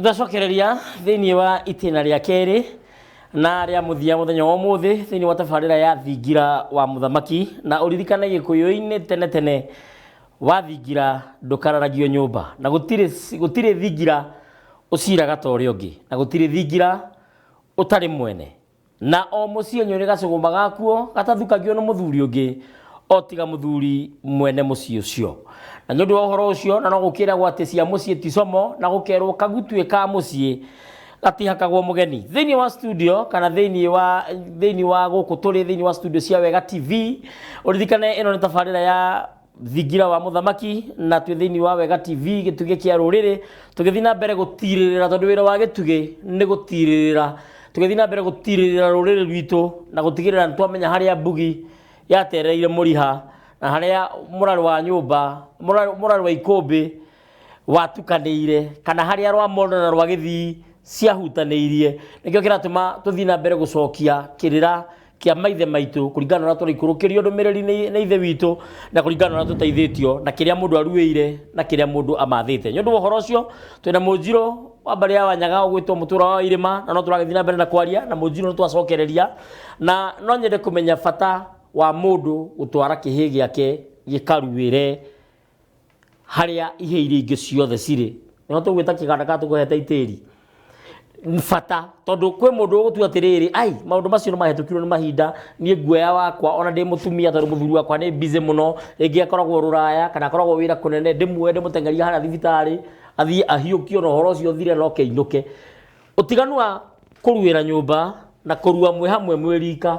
tũcokereria thĩinĩ wa itĩna rĩa kerĩ na rĩa mũthia mũthenya wa ũmũthĩ thĩinĩ wa tabarĩra ya thingira wa mũthamaki na ũririkane gĩkũyũ-inĩ tene tene wathingira ndũkararagio nyũmba na gũtirĩ gũtirĩ thingira ũciraga ta ũrĩa ũngĩ na gũtirĩ thingira ũtarĩ mwene Na o mũciĩ nĩ ũrĩ gacũgũma gakuo gatathukagio nĩ mũthuri ũngĩ, o tiga mũthuri mwene mũciĩ ũcio. Na nĩ ũndũ wa ũhoro ũcio, na no gũkĩĩragwo atĩ cia mũciĩ ti como, na gũkeerwo kagutuĩ ka mũciĩ gatihakagwo mũgeni. Thĩinĩ wa studio kana thĩinĩ wa thĩinĩ wa gũkũ tũrĩ thĩinĩ wa studio cia Wega TV, ũririkane ĩno nĩ tabarĩra ya thingira wa muthamaki na twĩ thĩinĩ wa wega tv gĩtugĩ kĩa rũrĩrĩ tũgĩthiĩ na mbere gũtirĩrĩra tondũ wĩra wa gĩtugĩ nĩ gũtirĩrĩra tũgĩthiĩ na mbere gũtirĩrĩra rũrĩrĩ rwitũ na gũtigĩrĩra nĩ twamenya harĩa mbugi yatereire mũriha na harĩa mũrarũ wa nyũmba mũrarũ mũrarũ wa ikũmbĩ watukanĩire kana harĩa rwa mondo na rwa gĩthii ciahutanĩirie nĩkĩo kĩratũma tũthiĩ na mbere gũcokia kĩrĩra kĩa maithe maitũ kũringana na ũrĩa tũraikũrũkĩrio ndũmĩrĩri nĩ nĩ ithe witũ na kũringana na ũrĩa tũteithĩtio na kĩrĩa mũndũ aruĩire na kĩrĩa mũndũ amathĩte nĩ ũndũ wa ũhoro ũcio twĩna mũnjirũ wa mbarĩ ya wanyaga ũgwĩtwo mũtũra wa irĩma na no tũragĩthiĩ na mbere na kwaria na mũnjirũ nĩ twacokereria na no nyende kũmenya bata wa mũndũ gũtwara kĩhĩĩ gĩake gĩkaruĩre harĩa ihĩ iria ingĩ ciothe cirĩ nĩho tũgwĩta kĩganda kana tũkũhete itĩri bata tondũ kwĩ mũndũ ũgũtua atĩrĩrĩ ai maũndũ macio nĩ mahĩtũkirwo nĩ mahinda niĩ nguoya wakwa ona ndĩ mũtumia tondũ mũthuri wakwa nĩ busy mũno rĩngĩ akoragwo rũraya kana akoragwo wĩra kũnene ndĩmuoe ndĩmũteng'erie harĩa thibitarĩ athiĩ ahiũkio na ũhoro ũcio ũthire na oke ainũke ũtiganu wa kũruĩra nyũmba na kũrua mwĩ hamwe mwĩ rika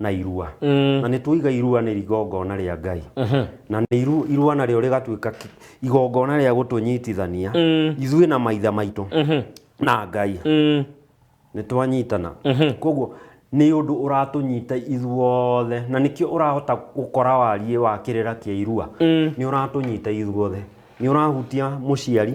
na irua na nĩ twoiga irua nĩ rigongona rĩa ngai na nĩ iru, irua narĩo rĩgatuĩka ki- igongona rĩa gũtũnyitithania ithuĩ na maithe maitũ na ngai nĩ twanyitana koguo nĩ ũndũ ũratũnyita ithuothe na nĩkĩo ũrahota gũkora wariĩ wa kĩrĩra kĩa irua nĩ ũratũnyita ithuothe nĩ ũrahutia mũciari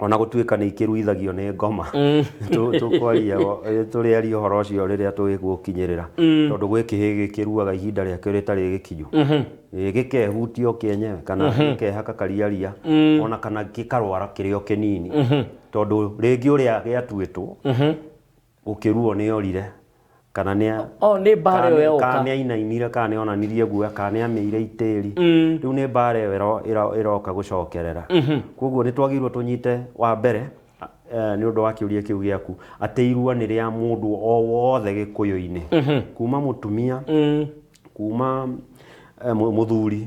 o na gũtuĩka nĩ ikĩruithagio nĩ ngoma tũ- tũkwaria o- eh, tũrĩaria ũhoro ũcio rĩrĩa tũgũkinyĩrĩra tondũ gwĩ kĩhĩ gĩkĩruaga ihinda rĩakĩo rĩtarĩ gĩkinyu Eh, gĩkehutia o kĩenyewe kana gĩkehaka kariaria ona kana gĩkarwara kĩrĩ o kĩnini tondũ rĩngĩ ũrĩa gĩatuĩtwo Gũkĩruo nĩ orire, kana nĩ a- Oh, nĩ mbaara kana ĩyo nĩ- yoka. kana nĩ ainainire, kana nĩ onanirie guoya, kana nĩ amĩire itĩri. Rĩu nĩ mbaara ĩyo ĩro- ĩro- ĩroka gũcokerera. Kwoguo nĩ twagĩrĩirwo tũnyite wa mbere eh, nĩ ũndũ wa kĩũria kĩu gĩaku atĩ irua nĩ rĩa mũndũ o wothe gĩkũyũ-inĩ kuma mũtumia kuma eh, mũ- mũthuri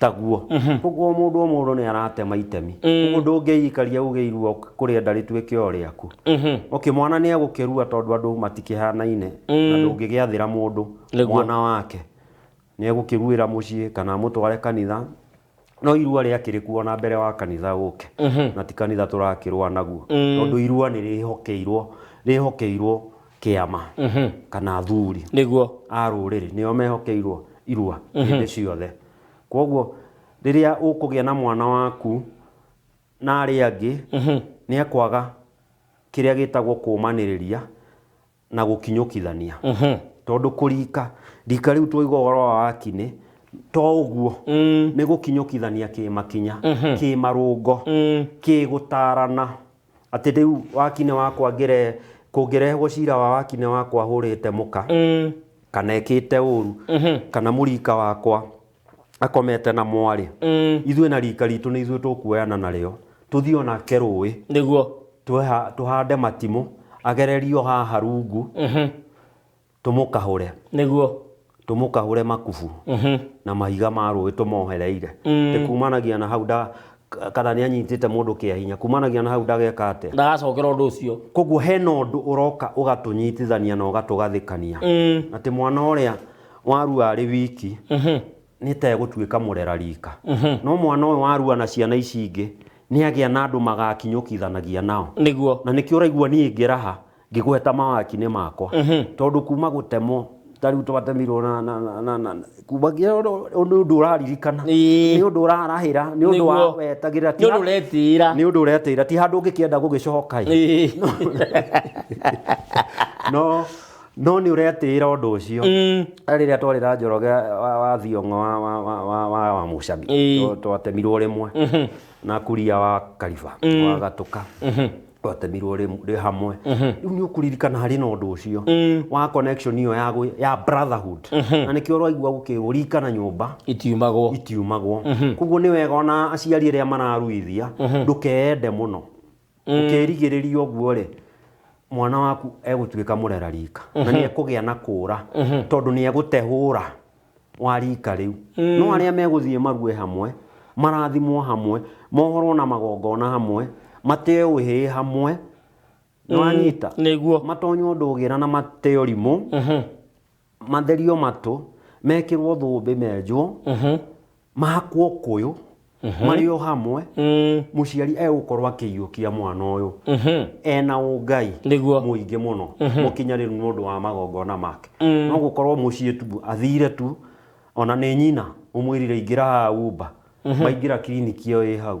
taguo koguo mũndũ o mũndũ nĩ aratema itemi koguo ndũngĩikaria uge irua kũrĩa nda rĩtuĩke o rĩaku okay mwana nĩ egũkĩrua tondũ andũ matikĩhanaine na ndũngĩgĩathĩra mũndũ Nĩguo. mwana wake nĩ egũkĩruĩra mũciĩ kana amũtware kanitha no irua rĩakĩrĩ kuo na mbere wa kanitha ũke na ti kanitha tũrakĩrũa naguo tondũ irua nĩ rĩhokeirwo rĩhokeirwo kĩama kana athuri nĩguo a rũrĩrĩ nĩo mehokeirwo irua hĩndĩ ciothe kwoguo rĩrĩa ũkũgĩa na mwana waku na arĩa angĩ nĩ ekwaga kĩrĩa gĩtagwo kũmanĩrĩria na gũkinyũkithania tondũ kũrika rika rĩu twaigua ũhoro wa wakinĩ to ũguo nĩ gũkinyũkithania kĩmakinya kĩmarũngo kĩgũtarana Atĩ rĩu wakine wakwa ngĩre kũngĩrehwo cira wa wakine wakwa hũrĩte mũka mm. kana ekĩte ũru mm -hmm. kana mũrika wakwa akomete na mwarĩ mm. ithuĩ na rika ritũ nĩ ithuĩ tũkuoyana narĩo tũthiĩ onake rũĩ nĩguo tũhande matimũ agererio haha rungu mm -hmm. Tũmũkahũre. Nĩguo. Tũmũkahũre makubu na mahiga ma rũĩ tũmohereire. Ĩ kumanagia na hau nda kana nĩ anyitĩte mũndũ kĩa hinya kumanagia na hau ndageka atĩa? Ndagacokera ũndũ ũcio. Koguo hena ũndũ ũroka ũgatũnyitithania na ũgatũgathĩkania atĩ mwana ũrĩa warua arĩ wiki nĩ ta egũtuĩka mũrera rika. No mwana ũyũ warua na ciana ici ingĩ nĩ agĩa na andũ magakinyũkithanagia nao. Nĩguo. Na nĩkĩo ũraigua niĩ ngĩraha. ngĩgweta mawakinĩ makwa tondũ kuma gũtemwo ta rĩu twatemirwo na- na- na- na- na- kuma nginya ũndũ- ũndũ ũndũ ũraririkana Ĩĩ. nĩ ũndũ ũrarahĩra nĩ ũndũ wa Nĩguo. wetagĩrĩra ti nĩ ũndũ handũ- ũretĩĩra nĩ ũndũ ũretĩra ti handũ ũngĩkĩenda gũgĩcoka ĩ. Ĩĩ. no no nĩ ũretĩra ũndũ ũcio Mm. rĩrĩa twarĩ na njoroge wa wa thiong'o wa- wa- wa- wa- wa- wa mũcami Ĩĩ. Twa- twatemirwo rĩmwe na kuria wa kariba wa gatũka twatemirwo rĩ rĩ hamwe rĩu nĩ ũkũririkana harĩ na ũndũ ũcio wa connection iyo ya gwĩ- ya brotherhood na nĩkĩo ũraigua gũkĩrwo ririkana nyũmba itiumagwo itiumagwo koguo nĩ wega ona aciari arĩa mararuithia ndũkeende mũno ũkĩrigĩrĩria ũguo rĩ mwana waku egũtuĩka mũrera rika na nĩ ekũgĩa na kũra tondũ nĩ egũtehũra wa riika rĩu. No arĩa megũthiĩ marue hamwe, marathimwo hamwe, mohorwo na magongona hamwe, mateo ũhĩĩ hamwe, nĩwanyita? Nĩguo. Matonye ũndũ ũgĩra na mateo rimũ, matherio matũ, mekĩrwo thũmbĩ menjwo, mahakwo ũkũyũ marĩ o hamwe mũciari egũkorwo akĩiyũkia mwana ũyũ ena ũngai Nĩguo. mũingĩ mũno mũkinyanĩru nĩ ũndũ wa magongona make no gũkorwo mũciĩ tu athire tu ona nĩ nyina ũmwĩrire ingĩra haha wumba maingĩra kiriniki ĩyo ĩ hau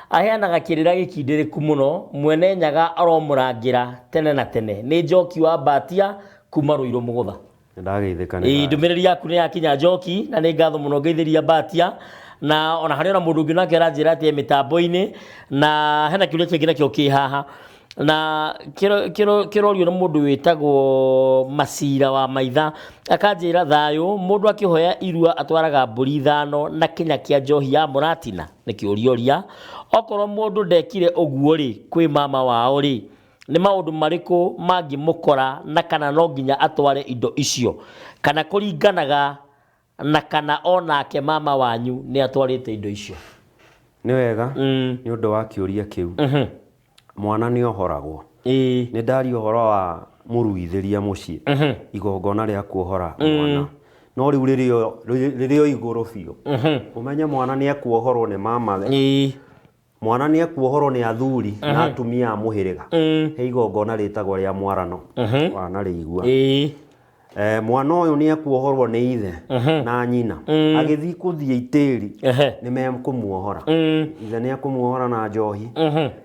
Aheanaga kĩrĩra gĩkindĩrĩku mũno, mwene nyaga aromũrangĩra tene na tene, nĩ Njoki wa Mbatia kuuma Rũirũ mũgũtha. Nĩndageithĩka nĩ Ĩĩ, thayũ. ndũmĩrĩri yaku nĩ yakinya Njoki, na nĩ ngatho mũno ngeithĩria Mbatia, na ona harĩ ona mũndũ ũngĩ nake aranjĩra atĩ e mĩtambo-inĩ, na hena kĩũria kĩngĩ nakĩo kĩ haha, na kĩrorio nĩ mũndũ wĩtagwo Macira wa Maitha, akanjĩra thayũ, mũndũ akĩhoya irua atwaraga mbũri ithano na kĩnya kĩa njohi ya mũratina? Nĩ kĩũriũria. Okorwo mũndũ ndekire ũguo-rĩ, kwĩ mama wao-rĩ, nĩ maũndũ marĩkũ mangĩmũkora na kana no nginya atware indo icio? Kana kũringanaga Na kana o nake mama wanyu nĩ atwarĩte indo icio. Nĩ wega, nĩ ũndũ wa kĩũria kĩu. Mwana nĩ ohoragwo. Nĩ ndaria ũhoro wa mũruithĩria mũciĩ, igongona rĩa kuohora mwana. No rĩu rĩrĩ o igũrũ biũ, ũmenye mwana nĩ ekuohorwo nĩ mamawe. Mwana nĩ ekuohorwo nĩ athuri uh -huh. na atumia a mũhĩrĩga uh -huh. he igongona rĩtagwo rĩa mwarano uh -huh. wanarĩigua uh -huh. Eh, mwana ũyũ nĩ ekuohorwo nĩ ithe mhm. na nyina mm. agĩthiĩ kũthiĩ itĩri nĩ mekũmuohora mm. ithe nĩ ekũmuohora na njohi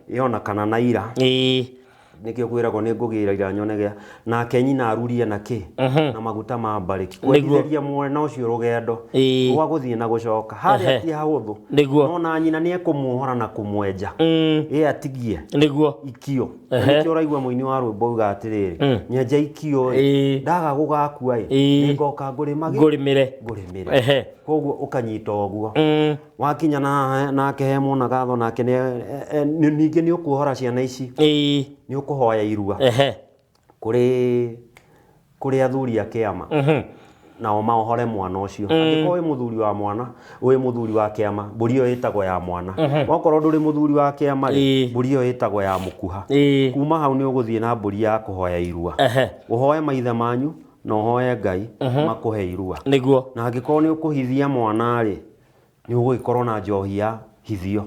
yona mhm. kana na ira nĩkĩo kwĩragwo nĩ ngũgĩra ira nyone gĩa nake nyina arurie na kĩ na maguta ma mbarĩki kwendithĩria mwana ũcio rũgendo Ĩĩ. rwa gũthiĩ na gũcoka harĩa Ehe. ti hahũthũ Nĩguo. no na nyina nĩ ekũmuohora na kũmwenja ĩ atigie nĩguo ikio Na Ehe. nĩkĩo ũraigua mũini wa rwĩmbo uga atĩrĩrĩ nyenja ikio ĩ Ĩĩ. ndaga gũgakua ĩ Ĩĩ. nĩngoka ngũrĩmage ngũrĩmĩre ngũrĩmĩre Ehe. koguo ũkanyita ũguo Mm. wakinya na haha nake he mwana gatho nake nĩ- e- e- nĩ- ningĩ nĩ ũkuohora ciana ici ĩĩ nĩ ũkũhoya irua ehe kũrĩ kũrĩ athuri a kĩama mhm nao maohore mwana ũcio angĩkorwo wĩ mũthuri wa mwana wĩ mũthuri wa kĩama mbũri ĩyo ĩtagwo ya mwana wakorwo ndũrĩ mũthuri wa kĩama rĩ Ĩĩ. mbũri ĩyo ĩtagwo ya mũkuha ĩĩ kuma hau nĩ ũgũthiĩ na mbũri ya kũhoya irua ehe ũhoe maithe manyu na ũhoe ngai makũhe irua nĩguo na angĩkorwo nĩ ũkũhithia mwana rĩ nĩ ũgũgĩkorwo na njohi ya hithio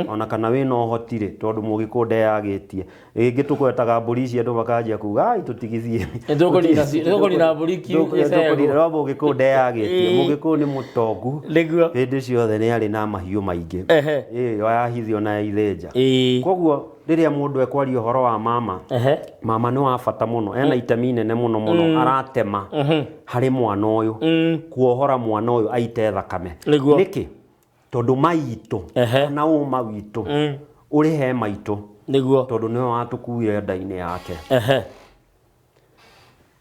ona kana wĩna ũhoti rĩ tondũ mũgĩkũyũ ndeyagĩtie rĩngĩ tũgwetaga mbũri ici andũ makanjia kuga ai tũtigithie Nĩtũkũnina ci- nĩtũkũnina mbũri ki- gĩcegũ." no mũgĩkũyũ ndeyagĩtie Ĩĩ. mũgĩkũyũ nĩ mũtongu nĩguo hĩndĩ ciothe nĩ arĩ na mahiũ maingĩ Ehe. Ĩĩ, yahithio na yaithĩnja Ĩĩ. koguo rĩrĩa mũndũ ekwaria ũhoro wa mama Ehe. mama nĩ wa bata mũno ena itemi inene mũno mũno aratema harĩ mwana ũyũ kuohora mwana ũyũ aite thakame Nĩguo. nĩkĩ tondũ maitũ Ehe. kana ũma witũ ũrĩ he maitũ nĩguo tondũ nĩwe watũkuire nda-inĩ yake Ehe.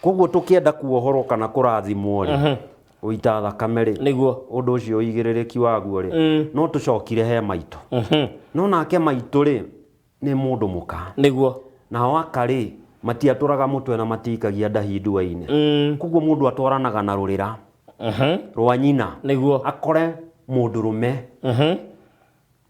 koguo tũkĩenda kuohorwo kana kũrathimwo rĩ gũita thakame rĩ nĩguo ũndũ ũcio ũigĩrĩrĩki waguo rĩ Mm. no tũcokire he maitũ Mhm. no nake maitũ rĩ nĩ mũndũ mũka nĩguo nao aka rĩ matiatũraga mũtwe na matiikagia ndahi ndua-inĩ Mm. koguo mũndũ atwaranaga na rũrĩra Mhm. rwa nyina nĩguo akore mũndũrũme Mhm.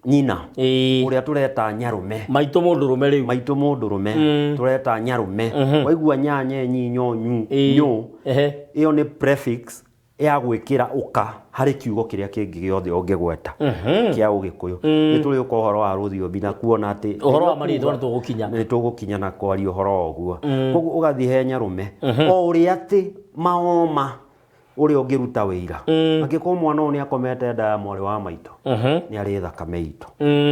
nyina Ĩĩ. ũrĩa tũreta nyarume maitũ mũndũ rũme rĩu maitũ mũndũ rũme Mm. tũreta nyarume Mhm. waigua nyanye nyinyo nyu Ĩĩ. nyũ Ehe. ĩyo nĩ prefix ya gwĩkĩra ũka harĩ kiugo kĩrĩa kĩngĩ gĩothe ũngĩgweta Mhm. kĩa ũgĩkũyũ Mm. nĩ tũrĩũka ũhoro wa rũthiomi na kuona atĩ Ũhoro wa marĩĩtwa nĩtũgũkinya. nĩ tũgũkinya na kwaria ũhoro wa ũguo koguo ũgathiĩ he nyarume o ũrĩa atĩ maoma ũrĩa ũngĩruta wĩira angĩkorwo mwana ũyũ nĩ akomete nda ya mwarĩ wa maitũ nĩ arĩ thakame itũ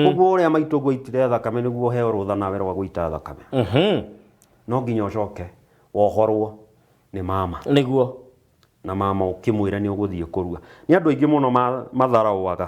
ũguo ũrĩa maitũ ngwaitire thakame nĩguo ũheo rũtha nawe rwa gũita thakame no nginya ũcoke wohorwo nĩ mama nĩguo na mama ũkĩmwĩre nĩ ũgũthiĩ kũrua nĩ andũ aingĩ mũno ma- matharaũaga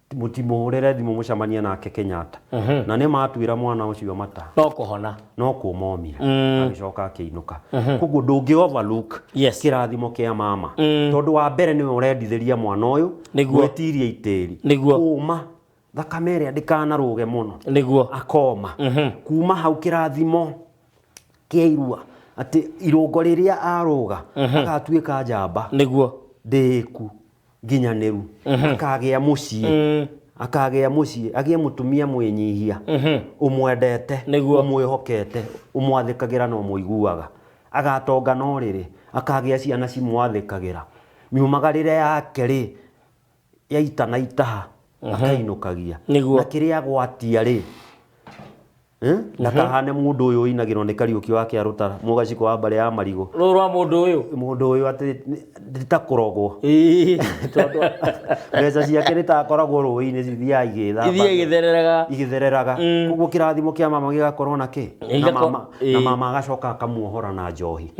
mũtimũhũrĩre thimũ mũcemanie nake Kenyatta na nĩ matuĩra mwana ũcio mata no kũhona no kũmomire agĩcoka akĩinũka koguo ndũngĩ overlook Yes. kĩrathimo kĩa mama tondũ wa mbere nĩwe ũrendithĩria mwana ũyũ Nĩguo. gwĩtiria itĩri Nĩguo. kũma thakame ĩrĩa ndĩkanarũge mũno nĩguo akoma kuma hau kĩrathimo kĩa irua atĩ irũngo rĩrĩa arũga agatuĩka njamba nĩguo ndĩku nginyanĩru akagĩa mũciĩ akagĩa mũciĩ agĩe mũtumia mwĩnyihia ũmwendete Nĩguo. ũmwĩhokete ũmwathĩkagĩra na ũmũiguaga agatonga no rĩrĩ akagĩa ciana cimwathĩkagĩra miumagarĩre yake rĩ yaita na itaha akainũkagia Nĩguo. na kĩrĩa gwatia rĩ Eh? na kahane mundu uyu inagirwo ni kariuki wake arutara mugaciko wa mbare ya marigo rå rwa må ndå å yå mundu uyu ati nditakũrogwo mbeca ciake nitakoragwo rũĩ-inĩ cithiaga ithiä igĩthamba gä thereraga igĩthereraga koguo kĩrathimo kĩa mama gĩgakorwo na kĩ na Igako- mama- na ĩĩ. mama agacoka akamuohora na njohi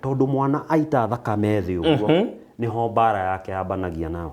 tondũ mwana aita thakame thĩ ũguo nĩho mbara yake yambanagia nao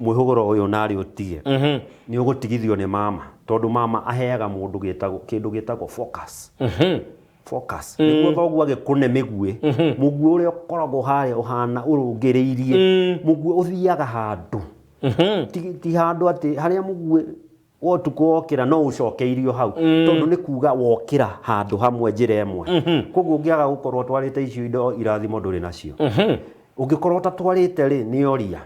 mwĩhũgũro ũyũ narĩ ũtige nĩ ũgũtigithio nĩ mama tondũ mama aheaga mũndũ gĩtagwo kĩndũ gĩtagwo focus focus nĩguo thoguo agĩkũne mĩguĩ mũguĩ ũrĩa ũkoragwo harĩa ũhana ũrũngĩrĩirie mũguĩ ũthiaga handũ ti ti handũ atĩ harĩa mũguĩ wa ũtukũ wokĩra no ũcokeirio hau tondũ nĩ kuga wokĩra handũ hamwe njĩra ĩmwe koguo ũngĩaga gũkorwo ũtwarĩte icio indo irathimo ndũrĩ nacio ũngĩkorwo ũtatwarĩte rĩ nĩ oria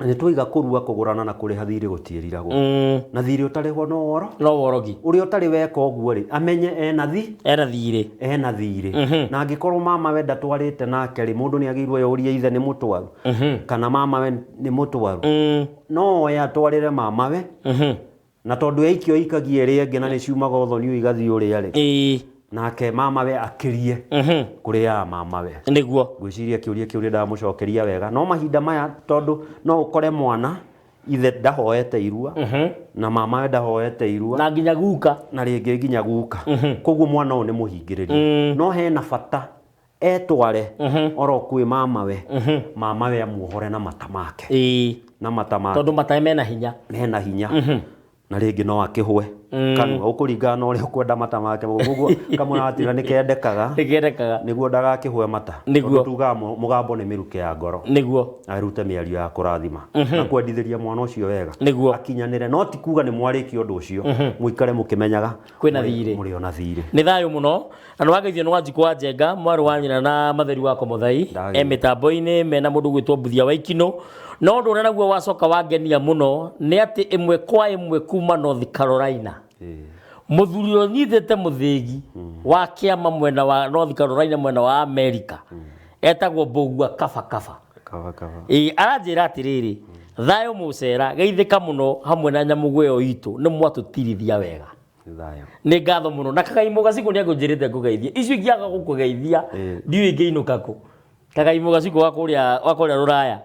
nĩ twaiga kũrua kũgũrana na kũrĩha thiirĩ gũtiĩriragwo Mm, na thiirĩ ũtarĩhwo no woro no worogi ũrĩa ũtarĩ weka ũguo rĩ amenye ena thi era thiirĩ ena thiirĩ Mhm. na angĩkorwo mama we ndatwarĩte nake rĩ mũndũ nĩ agĩirwo yorie ithe nĩ mũtwaru Mhm. kana mama we nĩ mũtwaru Mm, no oe atwarĩre mama we mhm. Na tondũ yaikio ĩikagie ĩrĩa ĩngĩ na nĩ ciumaga ũthoni ũyũ igathiĩ ũrĩa rĩ, ĩĩ nake mamawe akĩrie mhm, kũrĩ ya mamawe. nĩguo Ngwĩciria kĩũria kĩu nĩ ndamũcokeria wega, no mahinda maya tondũ no ũkore mwana ithe ndahoete irua na mamawe ndahoete irua na nginya guka na rĩngĩ nginya guka koguo mwana ũyũ nĩ mũhingĩrĩrie no hena bata etware oro kwĩ mamawe mamawe amuohore na mata make ĩĩ na mata make tondũ matae mena hinya mena hinya na rĩngĩ no akĩhwe kanua ũkũringana na ũrĩa ũkwenda mata make koguo kamũratira nĩ kendekaga ĩgerekaga nĩguo ndagakĩhwe mata Nĩguo. Tondũ tugaga mũ- mũgambo nĩ mĩrukĩ ya ngoro nĩguo arute mĩario ya kũrathima na kwendithĩria mwana ũcio wega Nĩguo. akinyanĩre no ti kuga nĩ mwarĩkia ũndũ ũcio mũikare mũkĩmenyaga kwĩna thiirĩ mũrĩ ona thiirĩ nĩ thayũ mũno na nĩ wageithio nĩ wanjikũ wa njenga mwarĩ wa nyina na matheri wa komothai Ndagĩirio. e mĩtambo-inĩ mena mũndũ gwĩtwo mbuthia wa ikinũ no ũndũ ũrĩa naguo wacoka wangenia mũno nĩ atĩ ĩmwe kwa ĩmwe kuma north carolina Ĩĩ. mũthuri ũrĩa ũnyitĩte mũthĩgi wa kĩama mwena wa north carolina mwena wa america etagwo mbũgua kabakaba Kaba kaba. Ĩĩ, aranjĩra atĩrĩrĩ thayũ mũcera geithĩka mũno hamwe na nyamũgũ ĩyo itũ nĩ mwatũtirithia wega Nĩ thayũ. nĩ ngatho mũno na kagaimũ gacikũ nĩ akũnjĩrĩte ngũgeithie icio ingĩaga gũkũgeithia Ĩĩ. ndiũĩ ingĩinũka kũ kagaimũ gacikũ wa kũrĩa wa kũrĩa rũraya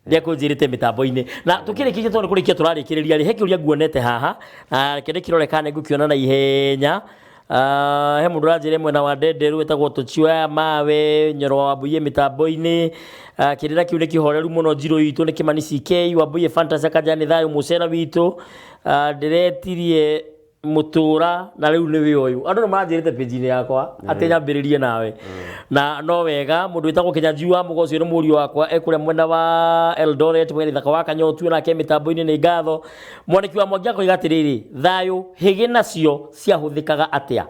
nĩ akũnjĩrĩte mĩtambo-inĩ na tũkĩrĩkĩtie tondũ nĩ kũrĩkia tũrarĩkĩrĩria rĩ he kĩũria nguonete haha na kĩndĩ kĩrore kana nĩ ngũkĩona na ihenya Ah, he mundu ranjire mwena wa ndenderu wetagwo tuchioya mawe nyoro wa wambuye mitambo-ini Ah, kirira kiu ni kihoreru muno njiru itu ni kimani ck wambuye fantasy akaja ni thayo mucera witu Ah, ndiretirie mutura na riu ni wi uyu andu ni maranjirite page-ini yakwa ati nyambiririe nawe na no wega mundu witagwo kinyanju wa mugo ucio ni muriu wakwa ekuria mwena wa eldoret mwena ithaka wa kanyotu nake mitambo-ini ni ngatho mwaniki wa mwangi akoiga atiriri thayo higi nacio Ciahũthĩkaga atĩa?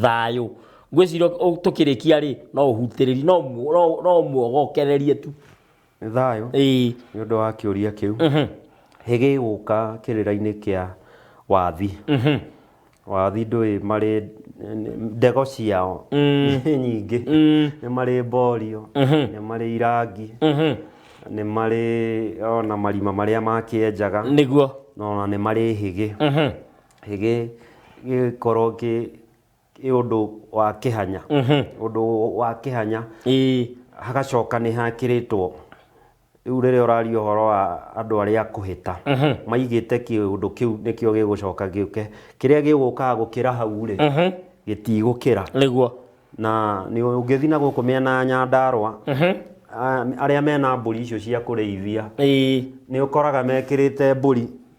Thayũ. Ngwĩciria tũkĩrĩkia rĩ, no ũhutĩrĩrie, no no ũmuogokererie tu. Nĩ thayũ. Ĩĩ. Nĩ ũndũ wa kĩũria kĩu. Hĩ gĩgũka kĩrĩra-inĩ kĩa wathi. Wathi ndũĩ marĩ ndego ciao nĩ nyingĩ. Nĩ marĩ mborio, nĩ marĩ irangi, nĩ marĩ ona marima marĩa makĩenjaga. Nĩguo. Na ona nĩ marĩ hĩgĩ. gĩkorwo kĩ kĩ ũndũ wa kĩhanya ũndũ wa kĩhanya ĩĩ hagacoka nĩ hakĩrĩtwo rĩu rĩrĩa ũraria ũhoro wa andũ arĩa kũhĩta maigĩte kĩũndũ kĩu nĩkĩo gĩgũcoka gĩũke kĩrĩa gĩgũkaga gũkĩra hau rĩ gĩtigũkĩra nĩguo na nĩ ũngĩthiĩ na gũkũ mĩena ya Nyandarũa a- arĩa mena mbũri icio cia kũrĩithia ĩĩ nĩ ũkoraga mekĩrĩte mbũri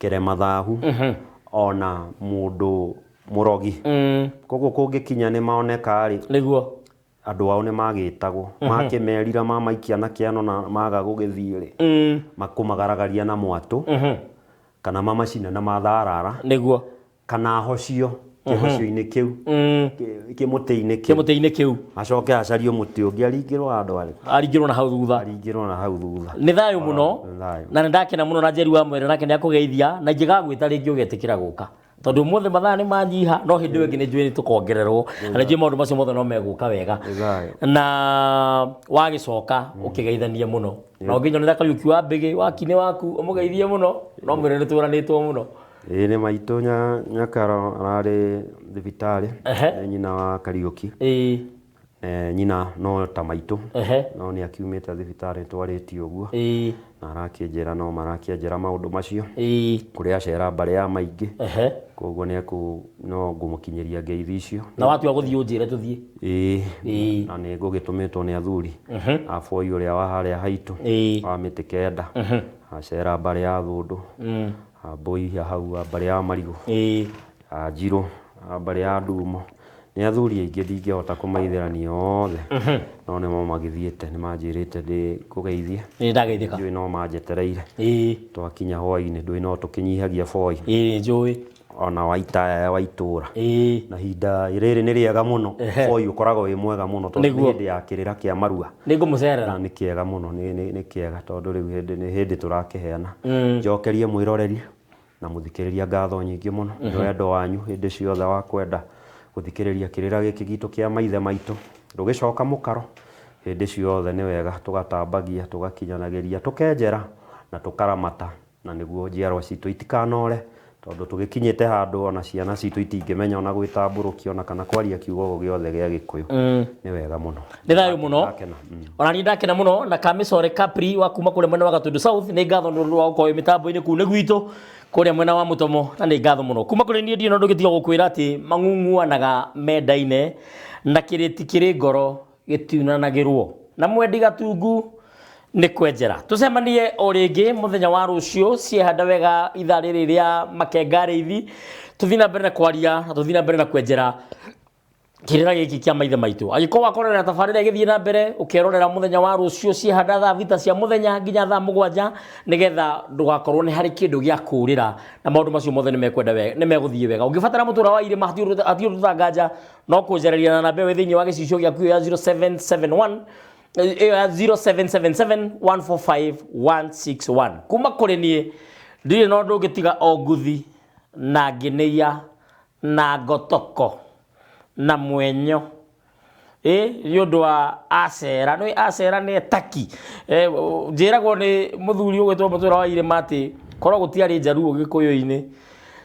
kĩremathahu ona mũndũ mũrogi koguo kũngĩkinya nĩ moneka-rĩ nĩguo andũ ao nĩ magĩtagwo makĩmerira mamaikia na kĩano na maga gũgĩthiĩ-rĩ makũmagaragaria na mwatũ kana mamacine na matharara nĩguo kana ahocio kĩhocio-inĩ kĩu Mm, kĩ- kĩmũtĩ-inĩ kĩu kĩmũtĩ-inĩ kĩu acoke acario mũtĩ ũngĩ aringĩrwo handũ arĩ aringĩrwo na hau thutha aringĩrwo na hau thutha nĩ thayũ mũno nĩ thayũ. na nĩ ndakena mũno na njeri wa mwere nake nĩ akũgeithia na ingĩgagwĩta rĩngĩ ũgetĩkĩra gũka tondũ ũmũthĩ mathaa nĩ manyiha no hĩndĩ ĩyo ĩngĩ nĩ njũĩ nĩ tũkongererwo na nĩ njũĩ maũndũ macio mothe no megũka wega Nĩ thayũ. na wagĩcoka ũkĩgeithanie mũno na ũngĩnyonera kariũki wa mbĩgĩ wakinĩ waku ũmũgeithie mũno no mwĩre nĩ twĩranĩtwo mũno Ĩĩ nĩ maitũ nya- nyakaro ararĩ thibitarĩ Ehe. nĩ nyina wa kariũki ĩĩ Eh, nyina no ta maitũ ehe no nĩ akiumĩte thibitarĩ twarĩtie ũguo ĩĩ na arakĩnjĩra no marakĩanjĩra maũndũ macio ĩĩ kũrĩa acera mbarĩ ya maingĩ ehe koguo nĩ ekũ no ngũmũkinyĩria ngeithi icio na watua gũthiĩ ũnjĩre tũthiĩ ĩĩ Ĩĩ. na nĩ ngũgĩtũmĩtwo nĩ athuri a boi ũrĩa wa harĩa haitũ Ĩĩ. wa mĩtĩ kenda acera mbarĩ ya thũndũ Wambũi a hau wa mbarĩ ya marigũ. Ĩĩ. A Njirũ a mbarĩ ya ndumo. Nĩ athuri aingĩ ndingĩhota kũmaithĩrania othe. No nĩmo magĩthiĩte. Nĩ manjĩrĩte ndĩkũgeithie. Ĩĩ ndageithĩka. Ndiũĩ no manjetereire. Ĩĩ. Twakinya hwainĩ ndũĩ no tũkĩnyihagia boi. Ĩĩ njũĩ. Ona wa itaya wa itũra. Ĩĩ. Na ihinda rĩrĩ nĩ rĩega mũno. Boi ũkoragwo wĩ mwega mũno tondũ nĩ hĩndĩ ya kĩrĩra kĩa marua. nĩ ngũmũcerera na nĩ kĩega mũno nĩ, nĩ, nĩ kĩega tondũ rĩu hĩndĩ nĩ hĩndĩ tũrakĩheana njokerie mwĩroreri na mũthikĩrĩria ngatho nyingĩ mũno nĩ wendo wanyu hĩndĩ ciothe wa kwenda gũthikĩrĩria kĩrĩra gĩkĩ gitũ kĩa maithe maitũ ndũgĩcoka mũkaro hĩndĩ ciothe nĩ wega tũgatambagia tũgakinyanagĩria tũkenjera na tũkaramata Na nĩguo njiarwa citũ itikanoore, tondũ tũgĩkinyĩte handũ o na ciana citũ itingĩmenya o na gwĩtambũrũkia o na kana kwaria kiugo o gĩothe gĩa Gĩkũyũ. Nĩ wega mũno. Nĩ thayũ mũno. Ndakena. Mm. Ona niĩ ndakena mũno na Kamisore Kapri wa kuma kũrĩa mwena wa Gatundu South nĩ ngatho nĩ ũndũ wa gũkorwo wĩ mĩtambo-inĩ kũu nĩ gwitũ kũrĩa mwena wa Mũtomo na nĩ ngatho mũno. Kuma kũrĩ niĩ ndirĩ na ũndũ ũngĩ tiga gũkwĩra atĩ mang'ung'uanaga mendaine na kĩrĩti kĩrĩ ngoro gĩtiunanagĩrwo na mwendi gatungu nĩ kwenjera tũcemanie o rĩngĩ mũthenya wa rũciũ ciehanda wega ithaa rĩrĩ rĩa makenga rĩithi tũthiĩ na mbere na kwaria na tũthiĩ na mbere na kwenjera kĩrĩra gĩkĩ kĩa maithe maitũ angĩkorwo wakorera tabarĩra ĩgĩthiĩ na mbere ũkerorera mũthenya wa rũciũ ciehanda thaa thita cia mũthenya nginya thaa mũgwanja nĩgetha ndũgakorwo nĩ harĩ kĩndũ gĩa kũrĩra na maũndũ macio mothe nĩ mekwenda wega nĩ megũthiĩ wega ũngĩbatara mũtũra wa irĩma hatirĩ ũtanganja no kũnjarĩria na namba ĩyo ĩ thĩinĩ wa gĩcicio gĩaku ĩyo ya 0771 eh, ĩyo ya 0777145161 kuma kũrĩ niĩ ndirĩ na ũndũ ũngĩ tiga o nguthi na ngĩnĩia na ngotoko na mwenyo ĩ nĩ ũndũ wa acera nĩ acera nĩ etaki Eh, o- njĩragwo nĩ mũthuri ũgwĩtwo mũtũra wa irĩma atĩ korwo gũtiarĩ njaruo gĩkũyũ-inĩ